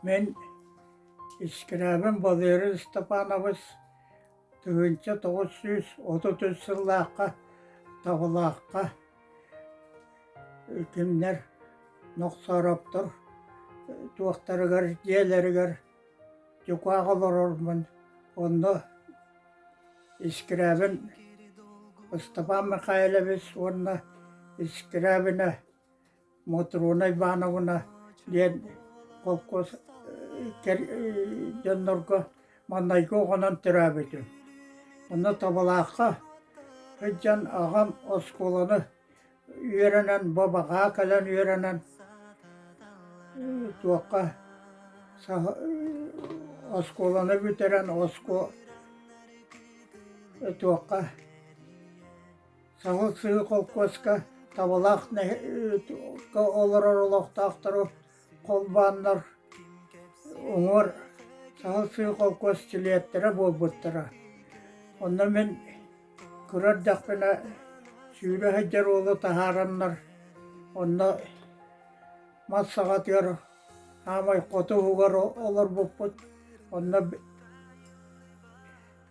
Мин Искирэбин Валерий Степанович тыһыынча тоҕус сүүс отут үс сыллаахха Табылаахха кинилэр Нохсороптор туохтарыгар дьиэлэригэр дьукаах олорормун онно Искрябин Ыстапаан Михайлович уонна Искрябина Мотруна Ивановна диэн холкуос дьоннорго маннайгы оҕонон төрөөбүтүм. Онно Табалаахха сылдьан аҕам оскуоланы үөрэнэн бу баҕаа кэлэн үөрэнэн туохха оскуоланы бүтэрэн оскуо туохха саһыл сыһыы холкуоска табалаах олорор олохтоохтору холбооннор уҥуор саҥа сыы холкуос силиэттэрэ буолбуттара. Онно мин кыра эрдэхпинэ сүүрэ сылдьар уолу таһаараннар онно мас саҕатыгар хаамай хоту уһугар олорбуппут. Онно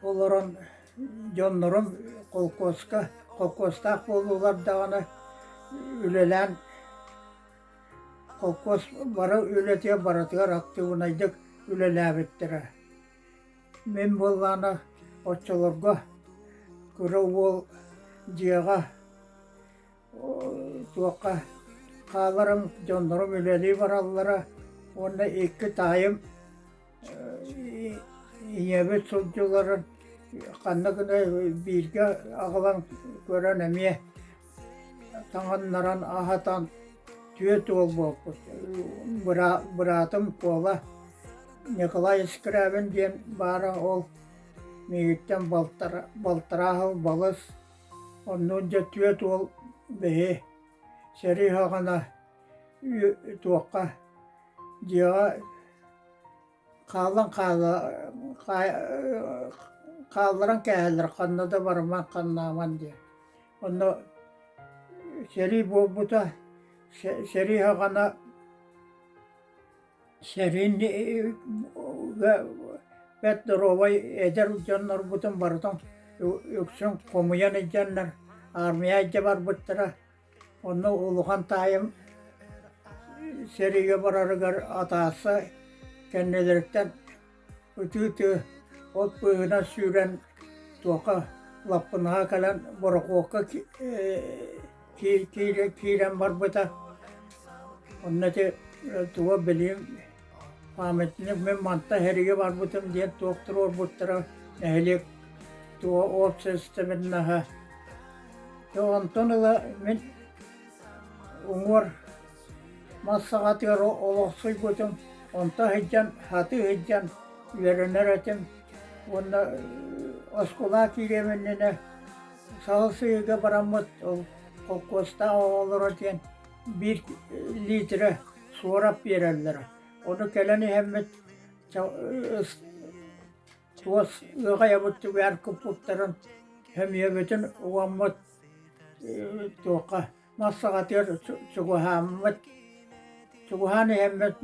олорон дьоннорум холкуоска холкуостаах буоллулар даҕаны үлэлээн Холкуос бары үлэтигэр барытыгар актыыбынайдык үлэлээбиттэрэ. Мин буоллаҕына оччолорго кыра уол дьиэҕэ туохха хааларым, дьоннорум үлэлии бараллара уонна икки таайым ийэбит сылдьыларын ханна гына бииргэ аҕалан көрөн эмиэ таҥыннаран аһатан түөрт уол буолбут быраатым Куола Николай Скрябин диэн баара ол миигиттэн балтараа сыл балыс оннуунча түөрт уол бэйи сэрии аҕана туохха дьиэҕэ хаалан хаала хаалларан кээһэллэр ханна да барымаҥ ханнааман диэн онно сэрии буолбута сэрии аҕана сэриин бэт доруобай эдэр дьоннорбутун барытын үксүн хомуйан илдьэннэр аармыйа илдьэ барбыттара Онно улахан таайым сэриигэ барарыгар атааса кэннилэриттэн ытыы-ытыы от быыһынан сүүрэн туоха лаппынааҕа кэлэн борохуокка киирэн барбыта. Онно ити туга билиим памятник мин мантан эһиги барбытым диэн туохтур уорбуттара нэһилиэк туо общественноһа то онтон ыла мин уҥуор мас саҕатыгар олохсуйбутум онто сылдьан хаты сылдьан үөрэнэр этим уонна оскуола киириэм иннинэ саһыл сыһыыга бараммыт ол холкуостаах оҕолоро диэн биир лиитирэ суорап биэрэллэрэ ону кэлэн иһэммит туос ыаҕайабыт түгэһэр куппуттарын сөмүйэбитин угаммыт туохха мас саҕатыгар чугаһааммыт чугаһаан иһэммит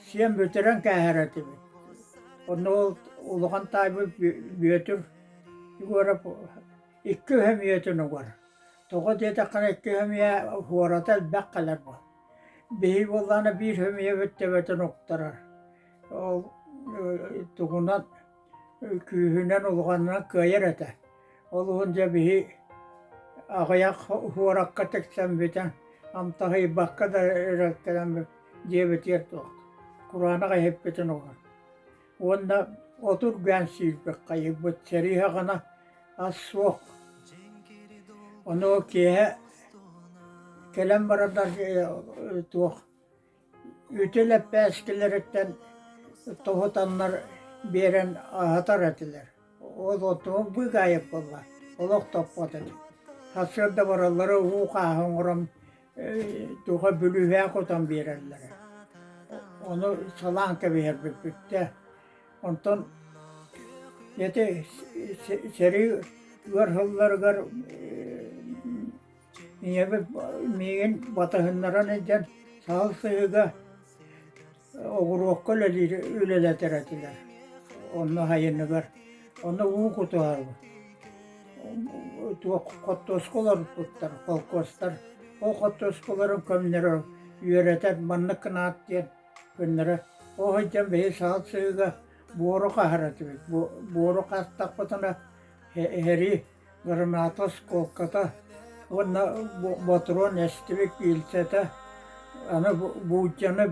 сиэн бүтэрэн кээһэр этибит онно ол улахан таайбыт бүөтүр егоров икки сөмүйэтин угар Тоҕо диэтэххинэ икки хэмийэ уората элбэх кэлэр бу. Биһиги буоллаҕына биир хэмийэбит төбөтүн уктарар. Ол э, тугунан күүһүнэн улаханынан кыайар этэ. Ол иһин дьэ биһи аҕыйах уоракка тиксэн бүтэн амтаһыйбакка да ыраттанан диэбитигэр туох кураанах иһиппитин уган уонна отургаан сиирбит хайыйбыт сериһаҕына ас суох ону киэһэ кэлэн барардарга э, туох үтүө лэппээскилэриттэн тоһутаннар биэрэн аһатар этилэр ол оттума быгаайып буолла олох топпот этим сарсыарда бараллара уу хааһы оҥорон туга бүлүүлээх отон биэрэллэрэ. Ону салаан кэбиһэрбиппиттэн онтон эти сэрии ыар сылларыгар ийэбит миигин батыһыннаран илдьэн саһыл сыһыга Огуруокка үлэлиир үлэлэтэр этилэр. Онно айаныбар онно уу кутуһарбыт. Туох хоттуоска олорбуттар холкуостар. Ол хоттуоскаларын көннөрө үөрэтэр маннык гынаат диэн көннөрө ол сылдьан бэйи саал сыыга буору хаһар этибит. Буору хааттахпытына иһэрии граната оскуолката уонна ботуруон эстибит пиильсэтэ аны буулдьаны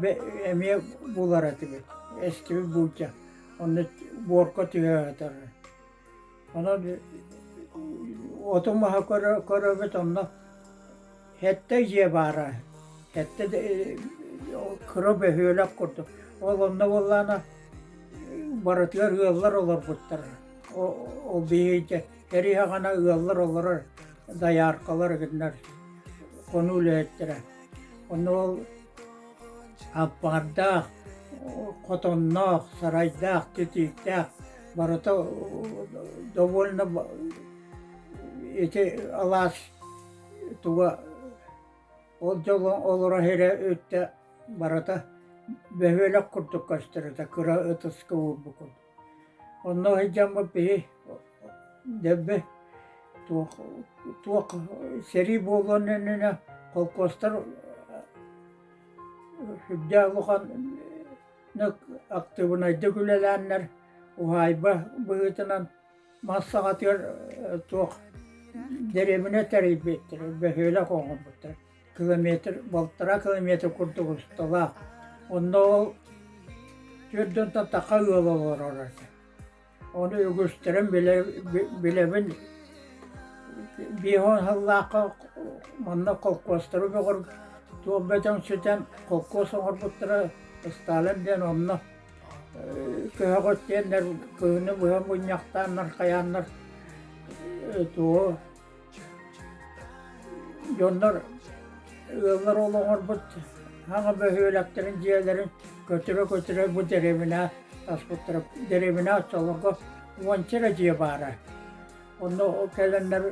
эмиэ булар этибит эстибит буулдьа онно буорка түһэ сатарар онон оту маһа көрөбүт онно Хэттэ дьиэ баара, хэттэ кыра бөһүөлэк курдук. Ол онно буоллаана барытыгар ыаллар олорбуттар. Ол биһиги кэриһэҕэна ыаллар олорор дояркалар гыннар хону үлэһиттэрэ. Онно ол аппаардаах, хотонноох, сарайдаах, титииктээх барыта довольно ити алаас туга ол дьоло олорор эрэ өттө барыта бөһүөлэк курдук көстөрүтэ кыра ытыска уурбукун онно сылдьаммыт биһи дөббө туох туох сэрии буолуон иннинэ холкуостар сүрдээх улаханнык актыыбынайдык үлэлээннэр уһаайба быһыытынан Мас саҕатыгар туох дэриэбинэ тэрийбиттэр, бөһүөлэк оҥорбуттар. Километр, балтараа километр курдук усталаах. Онно ол төрдүнтэн таха ыал олороро этэ. Ону үгүстэрин билэбин биир уон сыллаахха манна холкуостары бөҕөргө туох бөдөҥ сытан холкуос оҥорбуттара Сталин диэн онно көһөҕүт диэннэр кыһыны быһа мунньахтааннар хайааннар туо дьоннор ыаллар олоҥорбут хаҥа бөһүөлэктэрин дьиэлэрин көтүрэ-көтүрэ бу дэриэбинэ аспыттара дэриэбинэ оччолорго уонча эрэ дьиэ баара онно ол кэлэннэр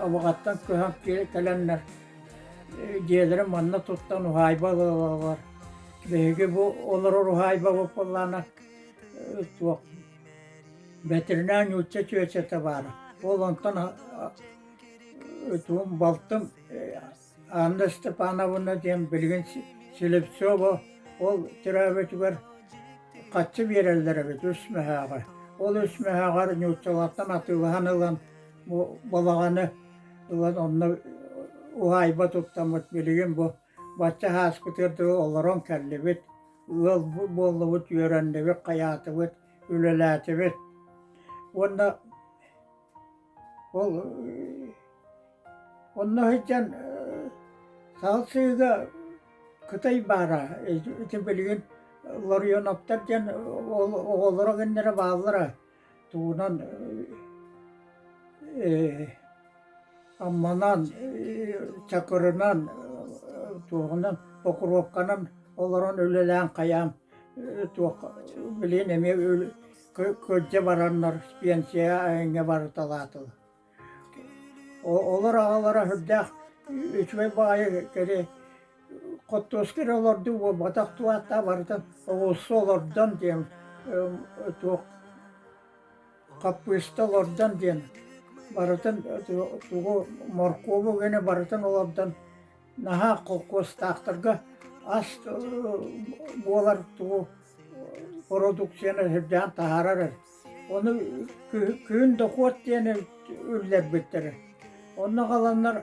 абыҕаттан көһөн кэлэннэр дьиэлэрин манна туттан уһаайба ылаллар Биһиги бу олорор уһаайба буккуллаана туох бэтэринээр нуучча түөчэтэ баара. Ол онтон туум балтым Анна Степановна диэн билигин Селевцова ол төрөөбүтүгэр хаччы биэрэллэр эбит үс мөһөөҕө. Ол үс мөһөөҕөр нууччалартан атыылаһан ылан бу балаҕаны ылан онно уһаайба туттаммыт билигин бу Бачча һааспытыгар дылы олорон кэллибит, ыал буоллубут, үөрэннибит, хайаатыбыт, үлэлээтибит. Уонна ол онно сылдьан саалсыыга кытай баара ити билигин ларионоптар диэн оҕолоро гыннара бааллара туунан амманан чакырынан туоһунан покровканан олорон үлэлээн-хайаан туох билигин эмиэ кырдьа бараннар пенсияҕа эҥҥэ барыталаатылар Олор аҕалара сүрдээх үчүгэй баҕайы кэри хоттуоска эрэ олордуу буолбатах дуо ааттаах барытын оҕуруска олордон диэн туох хаппыыста олордон диэн барытын тугу моркуобу гына барытын олордон наһаа холкуостаахтарга ас буолар туу продукцияны сырдаан таһаарар ону күһүн дохуот диэн үллэрбиттэр онно халаннар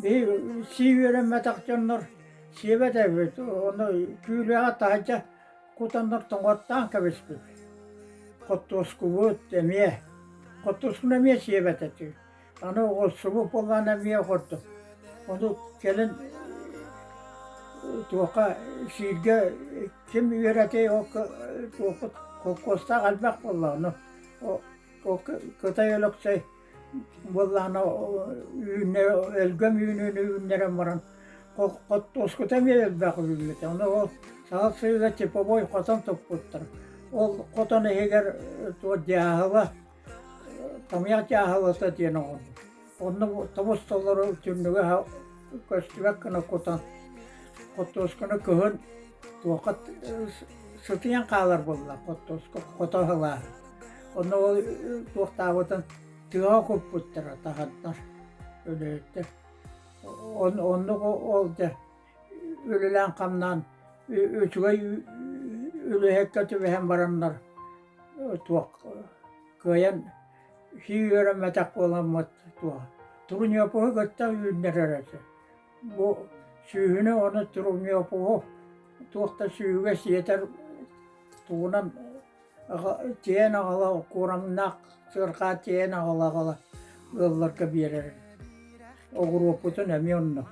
биһи сии үөрэммэтэх дьоннор сиэбэт эбит ону күүлэҕэ таһырдьа кутаннар тоҥоттаан кэбиспит хоттуоскубут эмиэ хоттуоскуну эмиэ сиэбэт этэ Аны оҕурсубут буоллаҕына эмиэ охордум. Ону кэлин туохха сииргэ ким үөрэтэй ол туохпут холкуостаах элбэх буоллаҕына ол кытай өлөксөй буоллаҕына үүннэрэ өлгөм үүнүүнү үүннэрэн баран хоттуоскута эмиэ элбэх үүммүтэ. Аны ол саһыл сыыйа типовой хотон туппуттар. Ол хотон иһигэр туох дьааһыла Томьяк дьааһылата диэн оҕо. Онно тобус толору түннүгү аһа көстүбэк гына кутан, хоттуосканы кыһын туохха сытыйан хаалар буолла хоттуоска хото ылаа. Онно ол туохтаабытын тыаҕа куппуттара таһардар өлөйүттэ. Оннук ол дьэ үлэлээн-хамнаан үчүгэй үлэһэккэ түбэһэн бараннар туох кыайан сии үөрэммэтэх буоламмыт туох Труньёпуһу кытта үүннэрэр этэ. Бу сүүһүнү ону Труньёпуһу туох да сүүһүгэ сиэтэр тугунан тиэйэн аҕала кураҥнаах сыарҕаа тиэйэн аҕала аҕала ыалларга биэрэр. Оҕуруоппутун эмиэ онно.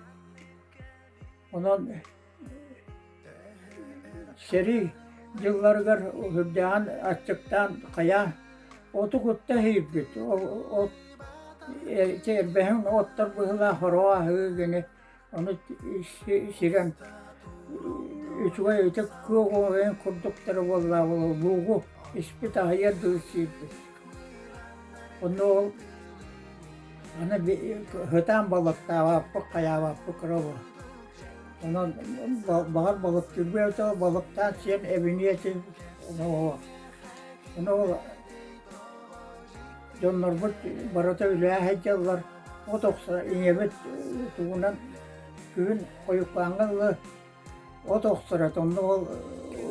Онон сэрии дьылларыгар үрдээн, аччыктаан хайа оту кутта иһирбит. От киэрбэһин оттор быһылаах ороҕо аһыы гыны ону сирэн үчүгэй ытык куоҕуһуйан курдуктара буоллаабылы луугу испит аһыйар дылы сиирбит Онно ол аны сытаан балыктаабаппыт, хайаабаппыт кыра онон баҕар балыктыырбыт ол балыктаан сиэн эбиниэтин ону ол дьоннорбут барыта үлэһэ сылдьаллар от охсо ийэбит тугунан күһүн хойукпааҥҥа дылы от охсура онно ол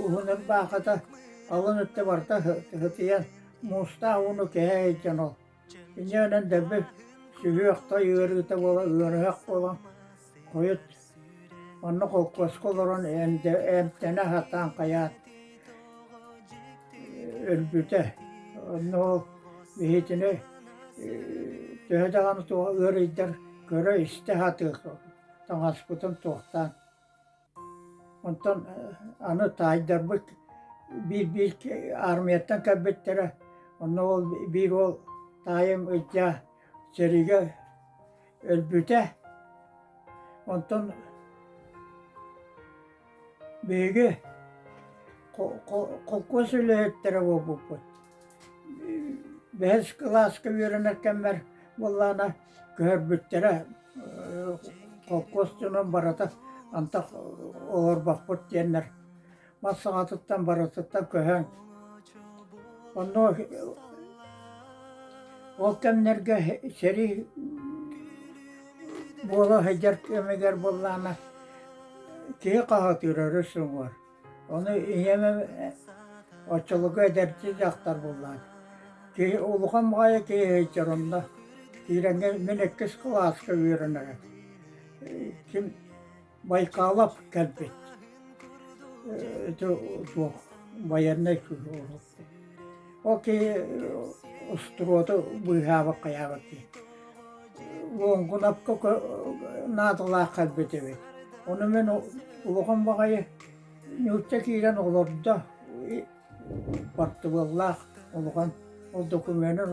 уһун ырбаахата алын өттө барда тыһытыйан муустаах ууну кэһэ сылдьан ол инньэ гынан дэлби сүһүөх-той ыарыыта буола ыарыһах буолан хойут онно холкуоска олорон эмтэнэ сатаан хайаат өлбүтэ онно ол биһитини төһө даҕаны туох ыарыйдар көрө истэ сатыыр таҥаспытын туохтаан онтон аны таайдарбыт биир-биир армияттан кэлбиттэрэ онно ол биир уол таайым ыдьаа сэриигэ өлбүтэ онтон биһиги холкуос үлэһиттэрэ буолбуппут бэһис кылааска үөрэнэр кэммэр буоллаана көһөрбүттэрэ холкуос дьонун барыта антах олорбоппут диэннэр мас саҕатыттан барытыттан көһөн онно ол кэмнэргэ сэрии буола сылдьар кэмигэр буоллаҕына киһи хаһытыыр өрүс уҥуор Ону ийэм оччолорго эдэрчи дьахтар буоллаҕа. Киһи улахан баҕайы киһи сылдьар онно. Киирэҥҥэ мин иккис кылааска үөрэнэрэ. Ким Байкалов кэлбит. Ити туох байыаннай киһи Ол киһи устуруоту быыһаабакка айаҕыт дии. Луоҥкунапка наадалаах кэлбит эбит. Ону мин улахан баҕайы ньуучча киирэн олордо. Бартыбыллаах улахан. Ол докумуонун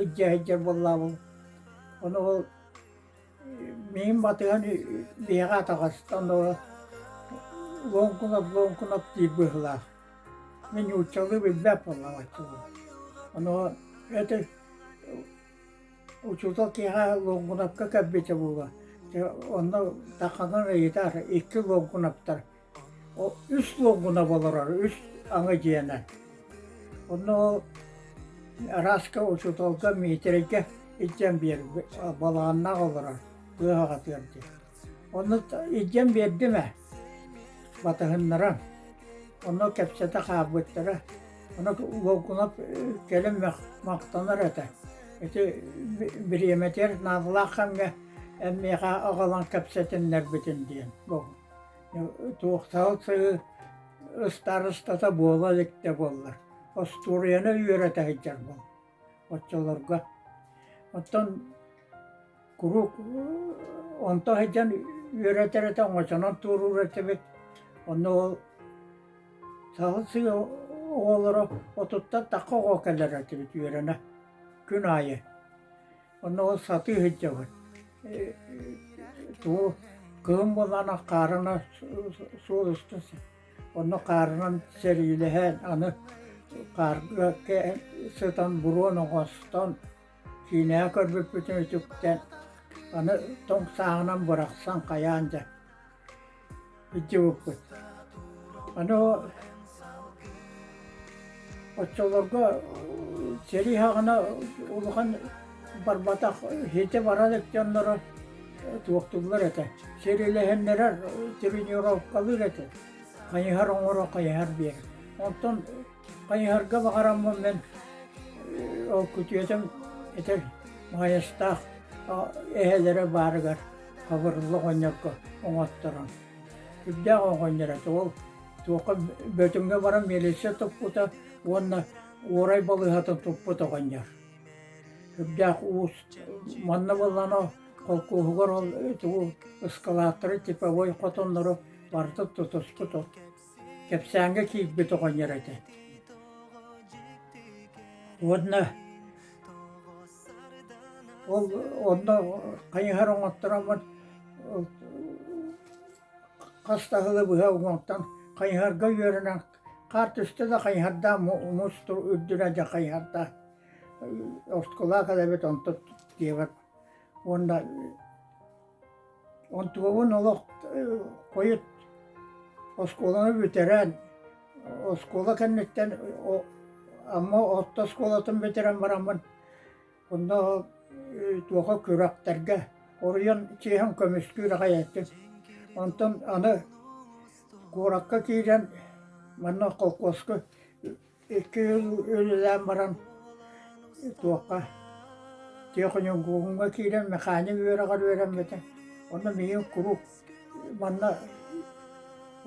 илдьэ сылдьар буоллаабыл. Ону ол Миин батыһан биһэҕэ атаҕастан оло луоҥкунап луоҥкунап дии быһылаах. Мин нууччалыы билбэт буоллаҕаччыбын. Оноо эти учуутал киэһэ луоҥкунапка кэлбитэ буолуо. Дьэ онно таканан ыйытар икки луоҥкунаптар үс уонгуна болорор үс аҥы дьиэнэ онно арааска учууталга миитирэйгэ илдьэн биэр балааннаах олорор кыаһаҕатыар диэн онно илдьэн биэрдим ээ батыһыннаран онно кэпсэтэ хаалбыттара ону уолгунап кэлин махтанар этэ ити бириэмэтигэр наадалаах ханга эн миэхэ аҕалан кэпсэтиннэрбитин диэн туохтаах ыстарыстата буола илик да буоллар остуоруйаны үөрэтэ сылдьар буол оччолорго оттон куруук онто сылдьан үөрэтэр этэ оҥочонон туоруур этибит онно ол саһыл сыа оҕолоро отуттан такка оҕо кэлэр этибит үөрэнэ күн аайы Онно ол сатыы сылдьабыт. Туу кыһын буоллаҕына хаарына суол устун онно хаарынан сэриилэһэн аны хаарга сытан буруон оҥостон киинэҕэ көрбүппүтүн үтүктэн аны тоҥ сааҕынан бырахсан хайаан дьэ итиуккут. Аны оччолорго сэрии хаҕына улахан барбатах хити барар дьонноро туохтууллар этэ. Сирилэһиннэрэр, тренировкалыыр этэ. Хайыһар оҥоро, хайыһар биэр. Онтон Хайыһарга баҕараммын мин ол күтүөтүм итир Майастаах эһэлэрэ баарыгар хабырылла оҕонньорго оҥотторон. Сүрдээх оҕонньор этэ ол туохха Бөтүҥҥэ баран милиция туппута уонна уорай балыыһатын туппут оҕонньор. Сүрдээх уус манна буоллано холкуоһугар ол тугу ыскалааттары типовой хотоннору барыта тутуспут ол кэпсээҥҥэ киирбит оҕонньор этэ уонна ол онно хайыһар оҥоттороммут хас таһылы быһа уҥуоттан хайыһарга үөрэнэн хаар түстэ да хайыһардаах муус үрдүнэ дьэ хайыһардаах оскулаак эбит онтон диэбэр уонна Онтубабын олох хойут оскуоланы бүтэрэн, оскуола кэнниттэн Амма орто оскуолатын бүтэрэн бараммын, онно туоха күрэхтэргэ хоруйан чиэһин көмүскүүр аҕай этим. Онтон аны куоракка киирэн манна холкуоска Икки ыал үлэлээн баран туохха техникумҥа киирэн механик үөрэҕэр үөрэммитим. Онно миигин куруук манна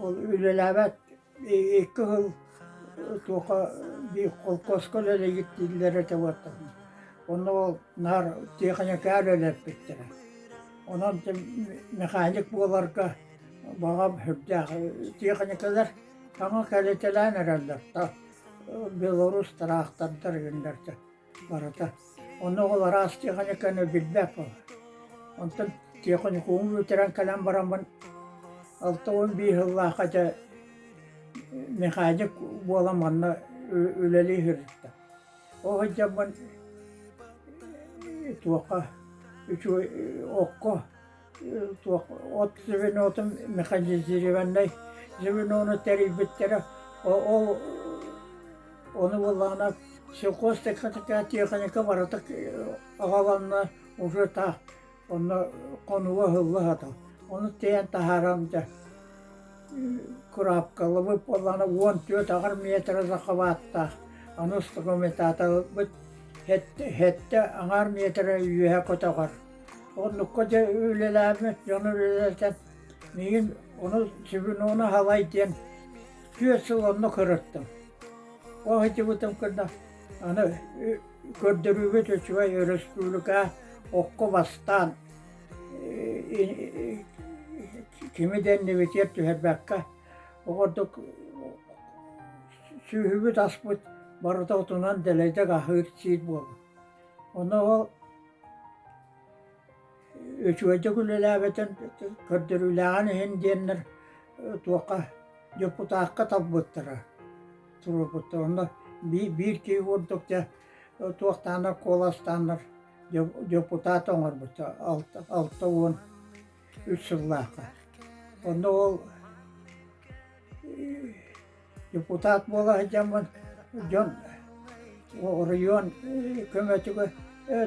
ол үлэлээбэт икки ыал туохха биир холкуоска үлэлиир дииллэр этэ буолтаҕына онно ол наар техникаҕа үлэлэппиттэрэ. Онон механик буоларга баҕам сүрдээх техникалар Таҥа кэлитэлээн эрэллэр да, белорус тыраахтардар игиннэрдэ барыта. Онно оҕолор араас техниканы билбэт буолар. Онтон техникуму бүтэрэн кэлэн бараммын алта уон биир сыллаахха дьэ механик буолан манна үлэлии сырытта. Ол сылдьаммын туохха, үчүгэй окко туох от звенотун механизированнай звенону тэрийбиттэрэ ол ону буллаҕына сельхозтарга такая техника барытык аҕаланна уже та онно хонуга ыһылла сатар ону тиэйэн таһааран дьэ кураапкалабыт буоллаҕына уон түөрт аҕар метрэ захваттаах аны стогометаторбыт сэттэ аҥаар метрэ үөһэ көтөҕөр Оннукка дьэ үлэлээбит дьон үлэлэтэн миигин ону Свинона Халай диэн түөрт сыл онно көрөттүм. Ол сылдьыбытым кэннэ аны көрдөрүүбүт үчүгэй өрөспүүбүлүкэ окко бастаан кими да иннибитигэр түһэрбэккэ ордук сүөһүбүт аспыт барыта отунан дэлэйдик аһыыр сиир буолла. Онно ол Үчүгэйдик үлэлээбэтин көрдөрүүлээҕин иһин диэннэр туохха дьокутаакка талбыттара туруорбуттара онно биир киһи курдук дьэ туохтаанар куоластааннар дьокутаат оҥорбута алта уон үс сыллаахха онно ол Депутат буола сылдьаммын дьон оройуон көмөтүгэр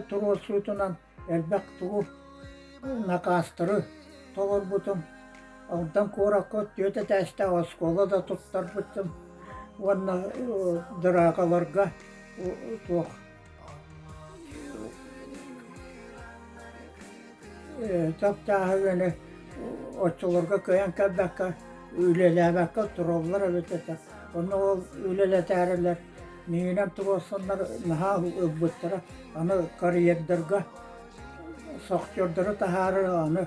туруорсуутунан элбэх тугу накаастары толорбутум. Алдан куоракка түөрт этээстээх оскуола да туттарбыттым уонна дыраакаларга туох Тохтааһы үөнү оччолорго кыайан көрбөккө үлэлээбэккэ тураллар эбит этэ. Онно ол үлэлэтээрилэр миигинэн туруорсаннар наһаа ылбыттара. Аны карьердарга шахтердары таһаарар аны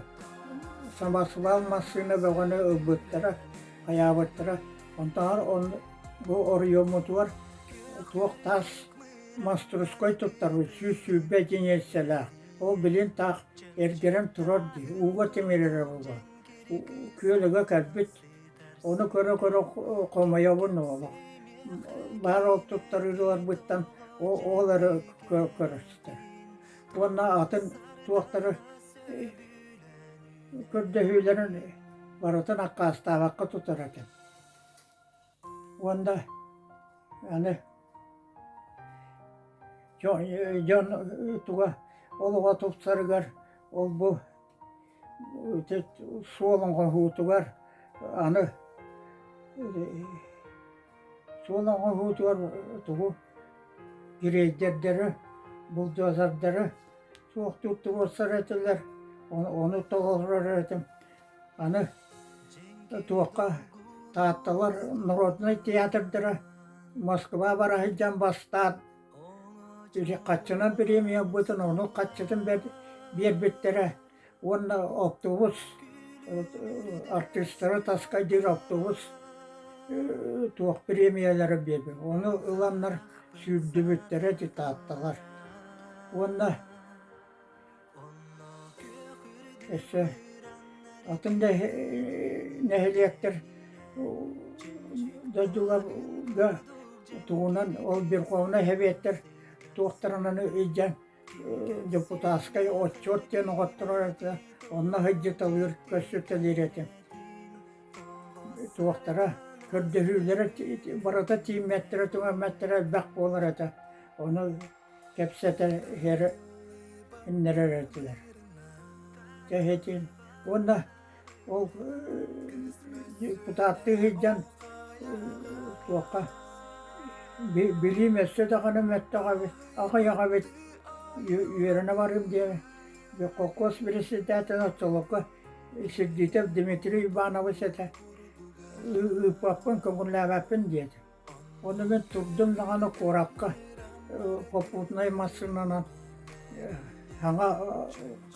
самосвал массыына бөҕөнү ылбыттара, хайаабыттара. Онтон бу оройуоммутугар туох тас Маструскай туттарыы сүүс сүүрбэ дьиҥ эссэлээх, ол билин таах эргэрэн турар дии, ууга тимирэрэ буолуо. Күөлүгэ кэлбит, ону көрө-көрө хомойобун олох. Баар ол туттарыыларбыттан ол эрэ көрөстө. Уонна атын туохтары көрдөһүүлэрин барытын аккаастаабакка тутар этим уонна аны дьон туга олоҕо тупсарыгар ол-бу суолоҥҕоһуутугар аны суолоҥҕоһуутугар тугу грейдердэрэ бульдозердэрэ суохтук туруорсар этилэр ону толорор этим Аны туохха Таатталар народнай театрдара Москва бара сылдьан бастаан хаччынан премьербытын ону хаччытын биэрбиттэрэ уонна оптубус артыыстара таскайдыыр оптубус туох премиялары биэрбин ону ыланнар сүүрдүбүттэрэ ити таатталар уонна Өссө атын да нэһилиэктэр дойдуларга туһунан ол Верховнай Сэбиэттэр туохтарынан илдьэн депутатскай отчет диэн оҕотторо онно сылдьыталыыр көрсүтэлиир этэ туохтара көрдөһүүлэрэ барыта тииммэттэрэ-түмэммэттэрэ элбэх буолар этэ ону кэпсэтэ иһэриннэрэр этилэр кэһэтин уонна ол депутаттыы сылдьан туохха билиим өссө даҕаны мөттөҕөбүт аҕыйаҕабыт үөрэнэ барыым диэн холкуос председатель оттолокко Сердитов Дмитрий Иванович этэ ыыппаппын көҥүллээбэппин диэтэ Ону мин турдум даҕаны куоракка попутнай массыынанан саҥа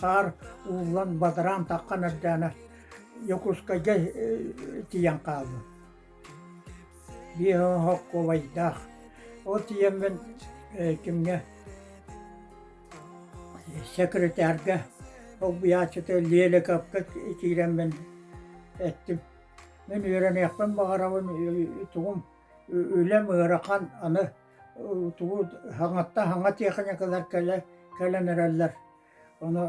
хаар ууллан бадараан таххан эрдээнэ Дьокуускайга тиийэн хаалбыт. Биохоккуобайдаах. Ол тиийэн мин кимҥэ секретарга, солбуйааччыта Леликовка киирэн мин эттим: Мин үөрэниэхпин баҕарабын, тугум үлэм ыарахан, аны тугу хаҥатта хаҥа тиэхиньикалар кэлэ кэлэн эрэллэр. Ону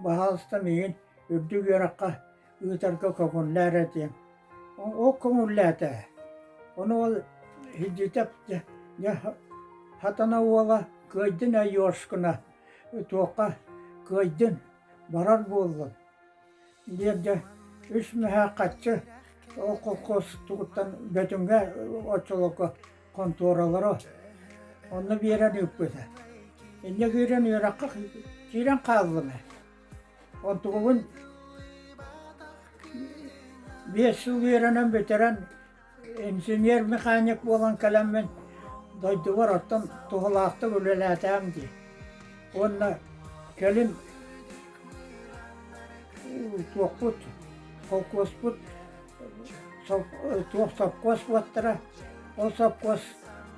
баһаалыста миигин үрдүк үөрэххэ ыытарга көҥүллээр этиэм. Ол көҥүллээтэ. Ону ол Һидьитап дьэ дьэ Хатана уола кыайдын Айошкина туохха кыайдын, барар буоллун. биэрдэ үс мөһөө хаччы ол колхоз тугуттан Бөтүҥҥэ оччолорго хонтуоралара онно биэрэн ыыппыта инньэ киирэн үөрэххэ киирэн хааллым онтубубун биэс сыл үөрэнэн бүтэрэн инженер механик буолан кэлэммин дойдубар оттон туһалаахтык үлэлээтээм дии уонна кэлин туохпут холкуоспут туох сопхуос уоттара ол сопхуос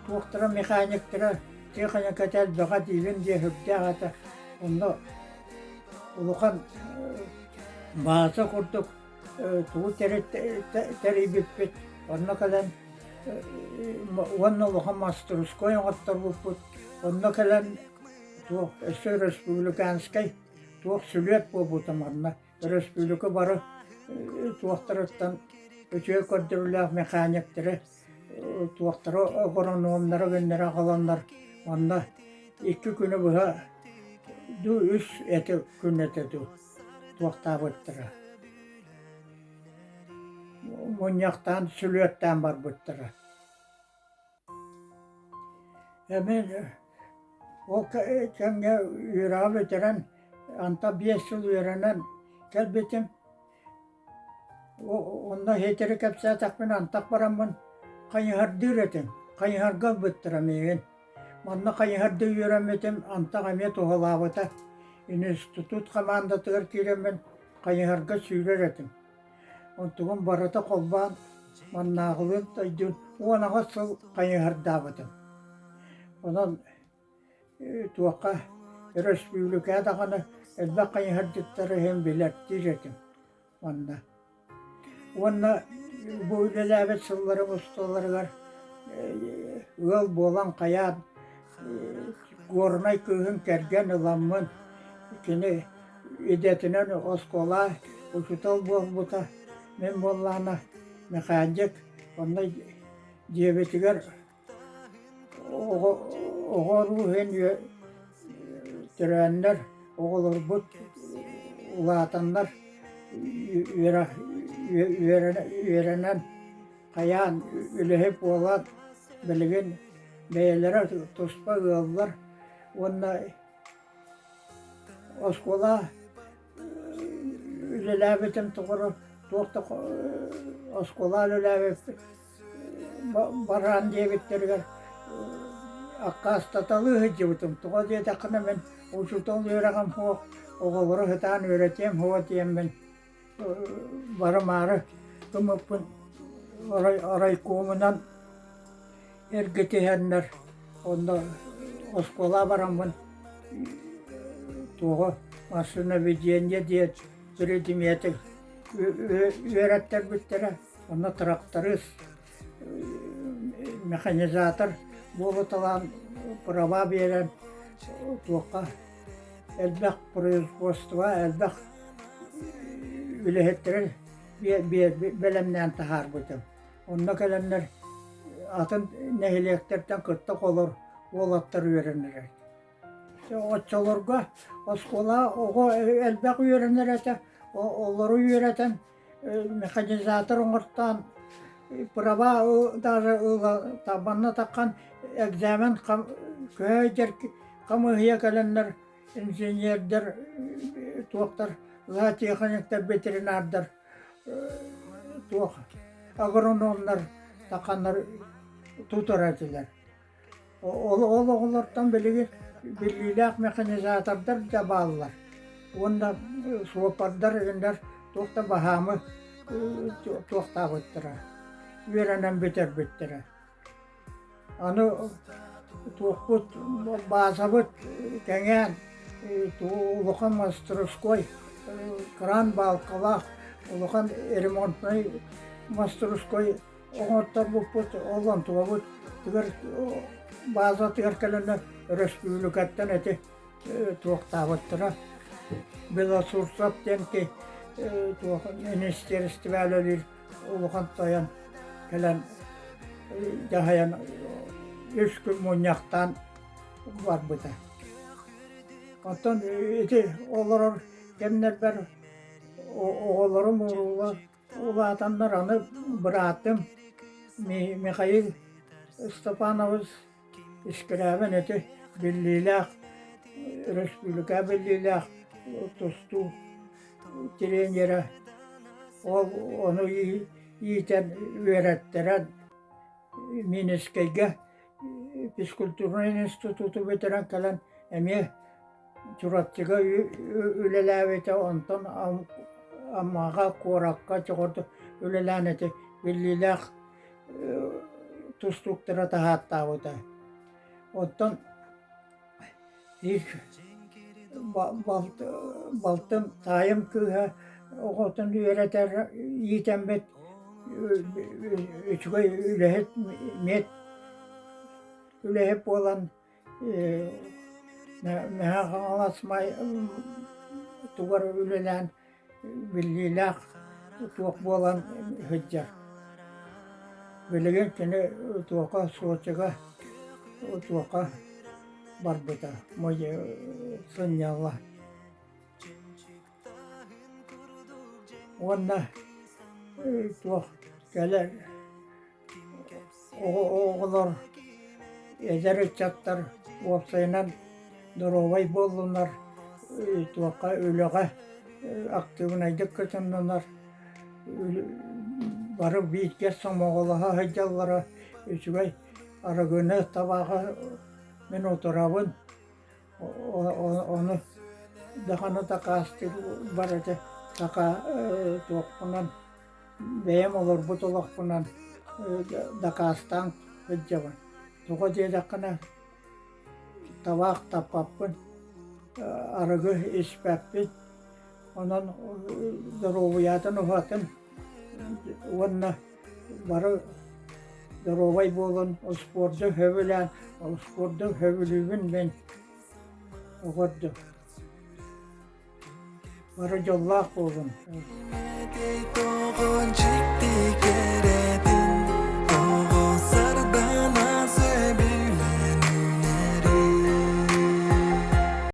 туохтара механиктара техника элбэҕэ диилим диэн сүрдээх этэ онно улахан бааза курдук тугу тэрийбиппит, онно кэлэн уонна улахан мастерской оҥотторбуппут, онно кэлэн туох өссө республиканскай туох сүлүөт буолбута манна өрөспүүбүлүкэ бары туохтарыттан үтүө көрдөрүүлээх механиктары туохтара агрономнара гэннэри аҕаланнар онно икки күнү быһа дуу үс эти күн этэ дуу туохтаабыттара мунньахтаан сүлүөттээн барбыттара эмин ол кэмҥэ үөрэҕи бүтэрэн анта биэс сыл үөрэнэн кэлбитим Онно хиэтири кэпсээтэхпин антах бараммын хайыһардыыр этим, хайыһарга ылбыттара миигин. Манна хайыһарда үөрэммитим, антах эмиэ туһалаабыта. Институт хамаандатыгар киирэммин хайыһарга сүүрэр этим. Онтугун барыта холбоон маннааҕылыын дойдубун уон аҕыс сыл хайыһардаабытым. Онон Туохха өрөспүүбүлүкэ даҕаны элбэх хайыһардьыттары иһин билэрдиир этим манна. Уонна бу үлэлээбит сылларым усталарыгар ыал буолан хайаан горнай кыыһын кэргэн ыламмын кини идэтинэн оскуола учуутал буолбута. Мин буоллаҕына Мэхээдьик онно дьиэбитигэр оҕо оҕолору иһин тирээннэр оҕолорбут улаатаннар үөрэнэн хайаан үлэһит буолан билигин бэйэлэрэ туспа ыаллар уонна оскуола үлэлээбитим тухары туох да оскуолаан үлээбиппит бараан диэбиттэригэр аккаастаталыы сылдьыбытым тоҕо диэтэххинэ мин учуутал үөрэҕим суох оҕолору сытаан үөрэтиэм суох диэммин бары-маары ымыппын орай орайкомунан эргэ түһэннэр онно оскуола бараммын туоҕа массыынабидение диэн биридимиэти үөрэттэрбиттэрэ онно тракторист механизатор буолуталаан права биэрэн туохха элбэх производство элбэх үлэһиттэрин бэлэмнээн таһаарбытым Онно кэлэннэр атын нэһилиэктэртэн кытта холор уолаттар үөрэнэрэ. Оччолорго оскуола оҕо элбэх үөрэнэр этэ, олору үөрэтэн механизатор оҥортоон права даже манна таххан экзамен көөйдер хамыыһыйа кэлэннэр инженердер туохтар зоотехниктар ветеринардар туох агрономнар таканнар тутар этилэр ол ол оҕолортон билиги биллиилээх механизатордар да бааллар уонна суоппардар игиннэр туох да баһаамы туохтаабыттара үөрэнэн бүтэрбиттэрэ Аны туохпут баазабыт кэҥээн улахан мастерской кран баалкалаах улахан ремонтнай мастерской оҥорторбуппут ол онтубабыт тыгыр баазатыгар кэлэннэр өрөспүүбүлүкэттэн ити туохтаабыттара белосурцев диэн ки туох министиэристибэ үлэлиир улахан тойон кэлэн дьаһайан үс күн мунньахтаан барбыта. Оттон ити олорор кэмнэрбэр оҕолорум улаатаннар аны быраатым Михаил Степанович Искирээбин ити биллиилээх, өрөспүүбүлүкэ биллиилээх тустуу тренерэ, ол ону иитэр үөрэттэрэн Минскэйгэ физкультурнай институту бүтэрэн кэлэн эмиэ Чурапчыга үлэлээбитэ, онтон Аммаҕа, куоракка дьоҕурдук үлэлээн ити биллиилээх тустууктара таһааттаабыта. Оттон их балтым таайым кыыһа оҕотун үөрэтэр иитэммит үчүгэй үлэһит, миэт үлэһит буолан Наһаа хаҥалас тугар үлэлээн биллиилээх туох буолан сылдьар. Билигин кини туока Сочига туока барбыта сынньалла. уонна туох кэлэр оҕолор эдэр ыччаттар уопсайынан доруобай буоллунар туохха үлэҕэ актыыбынайдык кытыннынар бары бииргэ сомоҕолоһо сылдьаллара үчүгэй арыгыны табаҕы мин утарабын Ону дахана такаастык барыта такаа туохпунан бэйэм олорбут олохпунан дакаастаан сылдьабын. Тоҕо диэтэххинэ табаах таппаппын, арыгы испэппин, онон доруобуйатын уһатын уонна бары доруобай буолан успуорду сөбүлээн успуорду сөбүлүүбүн мин оҕо ордук бары дьоллоох буолун